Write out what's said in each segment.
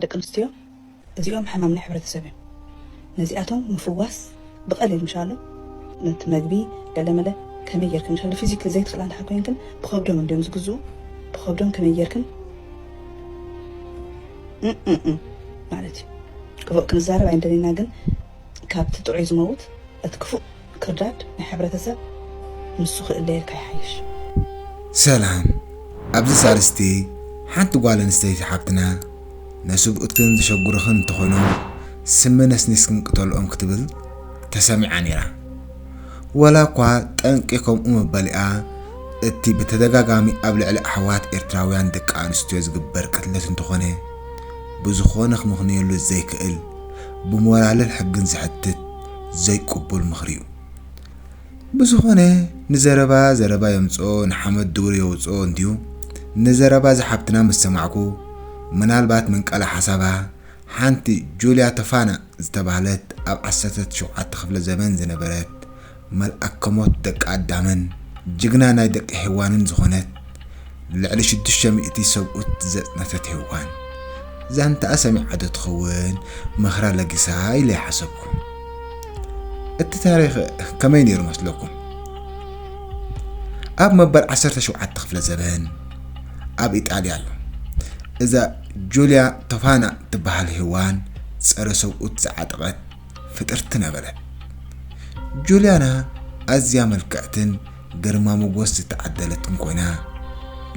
ደቂ ኣንስትዮ እዚኦም ሕማም ናይ ሕብረተሰብ እዮም ነዚኣቶም ምፍዋስ ብቀሊል ምሻሎ ነቲ መግቢ ገለመለ ከመይ ጌርክን ምሻሎ ፊዚክሊ ዘይትክእላ እንድሕር ኮይንክን ብከብዶም እንድዮም ዝግዝኡ ብከብዶም ከመይ ጌርክን እእእእ ማለት እዩ ክፉእ ክንዛረብ ኣይንደልይና ግን ካብቲ ጥዑይ ዝመውት እቲ ክፉእ ክርዳድ ናይ ሕብረተሰብ ንሱ ክእለየልካ ይሓይሽ። ሰላም ኣብዚ ሳልስቲ ሓንቲ ጓል ኣንስተይቲ ሓብትና ነስብኡትክን ዘሸጉርኽን እንተኾይኖም ስሚ ነስኒስክን ቅተልኦም ክትብል ተሰሚዓ ኔራ ወላ እኳ ጠንቂ ከምኡ ምባሊኣ እቲ ብተደጋጋሚ ኣብ ልዕሊ ኣሕዋት ኤርትራውያን ደቂ ኣንስትዮ ዝግበር ቅትለት እንተኾነ ብዝኾነ ክምኽንየሉ ዘይክእል ብሞራልን ሕግን ዘሕትት ዘይቅቡል ምኽሪ ዩ። ብዝኾነ ንዘረባ ዘረባ የምጽኦ ንሓመድ ዱር የውጽኦ እንድዩ ንዘረባ እዛ ሓብትና ምስ ሰማዕኩ ምናልባት ምንቃላ ሓሳባ ሓንቲ ጁልያ ተፋና ዝተባህለት ኣብ ዓሰርተ ትሽውዓተ ክፍለ ዘበን ዝነበረት መልኣከ ሞት ደቂ ኣዳምን ጅግና ናይ ደቂ ሄዋንን ዝኾነት ንልዕሊ ሽዱሽተ ሚእቲ ሰብኡት ዘጽነተት ሄዋን፣ ዛንታኣ ሰሚዓዶ ትኸውን ምኽራ ለጊሳ ኢለ ሓሰብኩ። እቲ ታሪኽ ከመይ ነይሩ መስለኩም? ኣብ መበል ዓሰርተ ሸውዓተ ክፍለ ዘበን ኣብ ኢጣልያ ኣሎ። እዛ ጁልያ ቶፋና ትበሃል ሄዋን ጸረ ሰብኡት ዝዓጠቐት ፍጥርቲ ነበረት። ጁልያና ኣዝያ ምልክዕትን ግርማ ሞጎስ ዝተዓደለት እንኮይና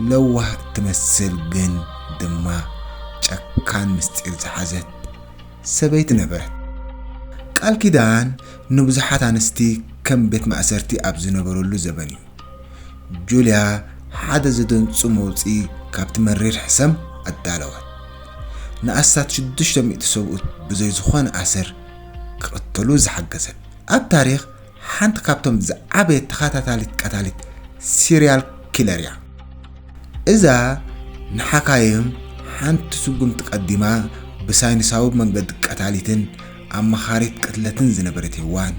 ለዋህ እትመስል ግን ድማ ጨካን ምስጢር ዝሓዘት ሰበይቲ ነበረት። ቃል ኪዳን ንብዙሓት ኣንስቲ ከም ቤት ማእሰርቲ ኣብ ዝነበረሉ ዘበን እዩ ጁልያ ሓደ ዘደንጹ መውጽኢ ካብቲ መሪር ሕሰም ኣዳለወት። ንኣስታት ሽዱሽተ ሚእቲ ሰብኡት ብዘይ ዝኾነ ኣሰር ክቕተሉ ዝሓገዘት ኣብ ታሪኽ ሓንቲ ካብቶም ዝዓበየት ተኻታታሊት ቀታሊት ሲርያል ኪለር እያ። እዛ ንሓካይም ሓንቲ ስጉምቲ ቀዲማ ብሳይንሳዊ መንገዲ ቀታሊትን ኣማኻሪት ቅትለትን ዝነበረት ሄዋን፣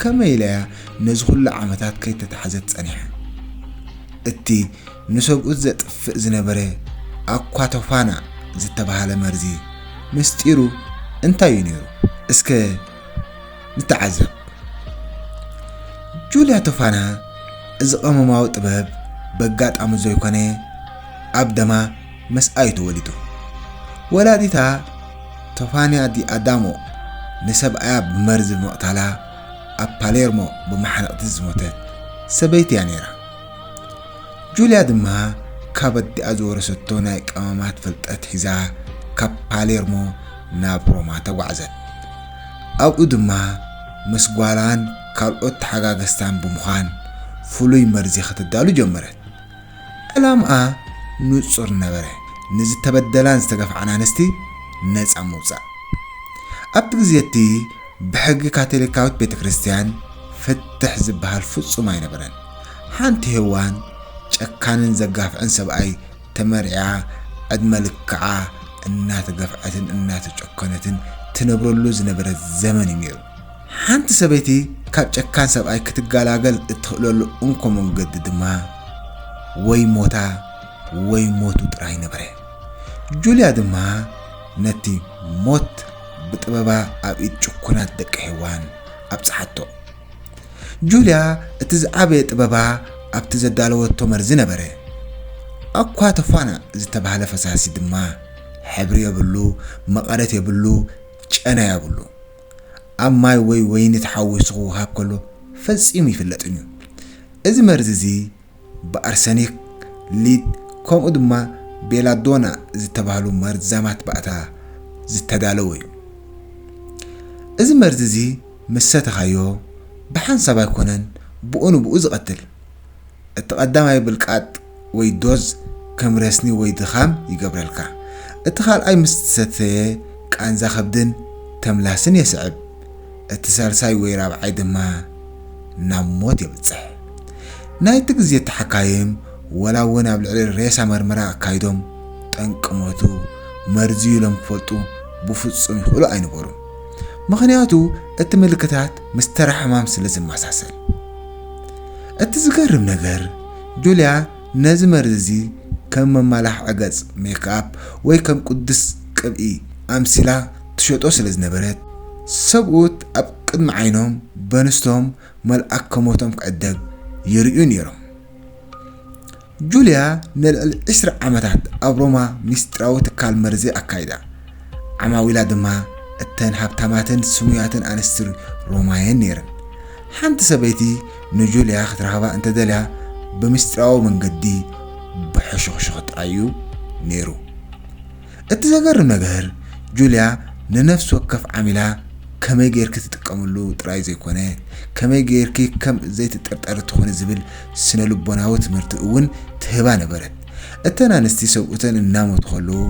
ከመይ ኢላ እያ ነዚ ኹሉ ዓመታት ከይተታሕዘት ጸኒሓ? እቲ ንሰብኡት ዘጥፍእ ዝነበረ ኣኳቶፋና ዝተባህለ መርዚ ምስጢሩ እንታይ እዩ ነይሩ? እስከ ንተዓዘብ። ጁልያ ቶፋና እዚ ቀመማዊ ጥበብ በጋጣሚ ዘይኮነ ኣብ ደማ መስኣዩ ተወሊዱ። ወላዲታ ቶፋንያ ዲ ኣዳሞ ንሰብኣያ ብመርዚ ብምቕታላ ኣብ ፓሌርሞ ብመሓነቕቲ ዝሞተት ሰበይቲ እያ ነይራ። ጁልያ ድማ ካብ ኣዲኣ ዝወረሰቶ ናይ ቀመማት ፍልጠት ሒዛ ካብ ፓሌርሞ ናብ ሮማ ተጓዕዘት። ኣብኡ ድማ ምስ ጓላን ካልኦት ተሓጋገዝታን ብምዃን ፍሉይ መርዚ ከተዳሉ ጀመረት። ዕላምኣ ንጹር ነበረ፣ ንዝተበደላን ዝተገፍዓን ኣንስቲ ነጻ ምውጻእ። ኣብቲ ግዜ እቲ ብሕጊ ካቶሊካዊት ቤተ ክርስቲያን ፍትሕ ዝበሃል ፍጹም ኣይነበረን። ሓንቲ ሄዋን ጨካንን ዘጋፍዕን ሰብኣይ ተመርዕያ ዕድመ ልክዓ እናተገፍዐትን እናተጨኮነትን ትነብረሉ ዝነበረት ዘመን እዩ ነይሩ። ሓንቲ ሰበይቲ ካብ ጨካን ሰብኣይ ክትገላገል እትኽእለሉ እንኮ መንገዲ ድማ ወይ ሞታ ወይ ሞቱ ጥራይ ነበረ። ጁልያ ድማ ነቲ ሞት ብጥበባ ኣብ ኢድ ጭኩናት ደቂ ሄዋን ኣብጽሓቶ። ጁልያ እቲ ዝዓበየ ጥበባ ኣብቲ ዘዳለወቶ መርዚ ነበረ። ኣኳተፋና ዝተባህለ ፈሳሲ ድማ ሕብሪ የብሉ፣ መቐረት የብሉ፣ ጨና የብሉ። ኣብ ማይ ወይ ወይኒ ተሓዊሱ ክወሃብ ከሎ ፈጺሙ ይፍለጥን እዩ። እዚ መርዚ እዚ ብኣርሰኒክ፣ ሊድ ከምኡ ድማ ቤላዶና ዝተባህሉ መርዛማት ባእታ ዝተዳለወ እዩ። እዚ መርዚ እዚ ምስ ሰተኻዮ ብሓንሳብ ኣይኮነን ብኡ ንብኡ ዝቐትል። እቲ ቀዳማይ ብልቃጥ ወይ ዶዝ ከም ረስኒ ወይ ድኻም ይገብረልካ። እቲ ካልኣይ ምስ ትሰተየ ቃንዛ ከብድን ተምላስን የስዕብ። እቲ ሳልሳይ ወይ ራብዓይ ድማ ናብ ሞት የብጽሕ። ናይቲ ግዜ ተሓካይም ወላ እውን ኣብ ልዕሊ ሬሳ መርመራ ኣካይዶም ጠንቂ ሞቱ መርዚ'ዩ ኢሎም ክፈልጡ ብፍጹም ይኽእሉ ኣይነበሩን። ምኽንያቱ እቲ ምልክታት ምስ ተራ ሕማም ስለ ዝመሳሰል። እቲ ዝገርም ነገር ጁልያ ነዚ መርዚ እዚ ከም መመላኽዒ ገጽ፣ ሜክኣፕ፣ ወይ ከም ቅዱስ ቅብኢ ኣምሲላ ትሸጦ ስለ ዝነበረት፣ ሰብኡት ኣብ ቅድሚ ዓይኖም በንስቶም መልኣከ ሞቶም ክዕደግ ይርእዩ ነይሮም። ጁልያ ንልዕሊ ዕስራ ዓመታት ኣብ ሮማ ምስጢራዊ ትካል መርዚ ኣካይዳ፣ ዓማዊላ ድማ እተን ሃብታማትን ስሙያትን ኣንስቲ ሮማ'የን ነይረን። ሓንቲ ሰበይቲ ንጁልያ ክትረኽባ እንተ ደልያ ብምስጢራዊ መንገዲ ብሕሹኽሹኽ ጥራይ'ዩ ነይሩ። እቲ ዘገርም ነገር ጁልያ ንነፍሲ ወከፍ ዓሚላ ከመይ ጌርኪ ትጥቀምሉ ጥራይ ዘይኮነ፣ ከመይ ጌርኪ ከም ዘይትጥርጠሪ ትኾኒ ዝብል ስነ-ልቦናዊ ትምህርቲ እውን ትህባ ነበረት። እተን ኣንስቲ ሰብኡተን እናሞቱ ከለዉ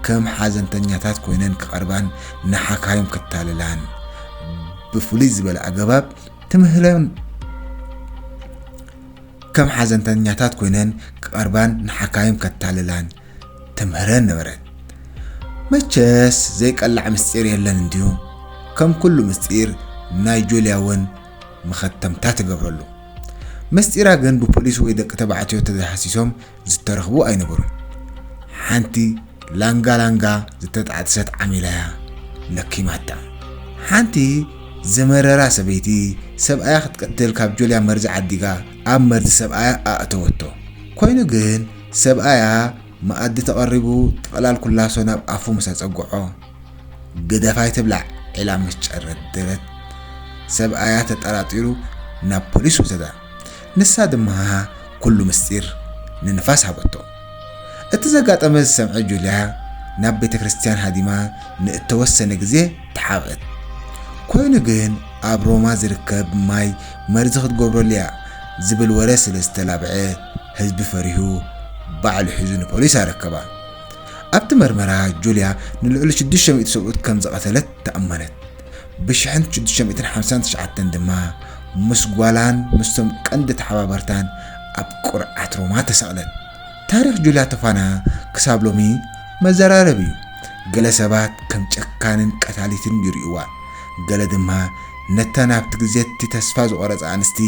ከም ሓዘንተኛታት ኮይነን ክቐርባን ንሓካይም ክታለላን ብፍሉይ ዝበለ ኣገባብ ትምህረን ከም ሓዘንተኛታት ኮይነን ክቐርባን ንሓካይም ከታልላን ተምህረን ነበረት። መቸስ ዘይቀላዕ ምስጢር የለን እንድዩ፣ ከም ኩሉ ምስጢር ናይ ጁልያ እውን መኸተምታ ተገብረሉ። ምስጢራ ግን ብፖሊስ ወይ ደቂ ተባዕትዮ ተዘይሃሲሶም ዝተረኽቡ ኣይነበሩን። ሓንቲ ላንጋ ላንጋ ዝተጣዕጥሰት ዓሚላ እያ ለኪማታ። ሓንቲ ዝመረራ ሰበይቲ ሰብኣያ ክትቀትል ካብ ጁልያ መርዚ ዓዲጋ ኣብ መርዚ ሰብኣያ ኣእተወቶ። ኮይኑ ግን ሰብኣያ መኣዲ ተቐሪቡ ጥቕላል ኩላሶ ናብ ኣፉ ምስ ኣጸግዖ፣ ግደፍ ኣይትብላዕ ኢላ ምስ ጨረደረት፣ ሰብኣያ ተጠራጢሩ ናብ ፖሊስ ወሰዳ። ንሳ ድማ ኩሉ ምስጢር ንንፋስ ሃበቶ። እቲ ዘጋጠመ ዝሰምዐ ጁልያ ናብ ቤተ ክርስትያን ሃዲማ ንእተወሰነ ግዜ ተሓብእት። ኮይኑ ግን ኣብ ሮማ ዝርከብ ማይ መርዚ ክትገብረሉ እያ ዝብል ወረ ስለ ዝተላብዐ፣ ህዝቢ ፈሪሁ ባዕሉ ሒዙ ንፖሊስ ኣረከባ። ኣብቲ መርመራ ጁልያ ንልዕሊ ሽዱሽተ ሚእቲ ሰብኡት ከም ዝቐተለት ተኣመነት። ብሽሕን ሽዱሽተ ሚእትን ሓምሳን ትሽዓተን ድማ ምስ ጓላን ምስቶም ቀንዲ ተሓባበርታን ኣብ ቅርዓት ሮማ ተሰቕለት። ታሪኽ ጁልያ ቶፋና ክሳብ ሎሚ መዘራረቢ እዩ። ገለ ሰባት ከም ጨካንን ቀታሊትን ይርእዩዋ፣ ገለ ድማ ነታ ናብቲ ግዜ እቲ ተስፋ ዝቖረጻ ኣንስቲ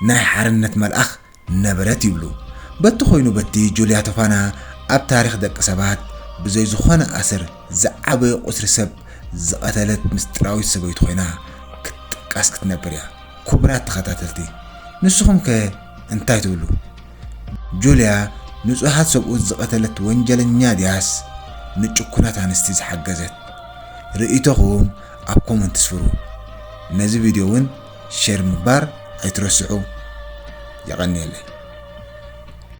ናይ ሓርነት መልኣኽ ነበረት ይብሉ። በቲ ኮይኑ በቲ ጁልያ ተፋና ኣብ ታሪኽ ደቂ ሰባት ብዘይ ዝኾነ ኣሰር ዝዓበየ ቁጽሪ ሰብ ዝቐተለት ምስጢራዊት ሰበይቱ ኮይና ክትጥቀስ ክትነብር እያ። ኩቡራት ተኸታተልቲ ንስኹም ከ እንታይ ትብሉ? ጁልያ ንጹሃት ሰብኡት ዝቐተለት ወንጀለኛ ድያስ ንጭኩናት ኣንስቲ ዝሓገዘት? ርእይቶኹም ኣብ ኮመንት ስፍሩ። ነዚ ቪድዮ ውን ሸር ምባር ኣይትረስዑ የቐንየለይ።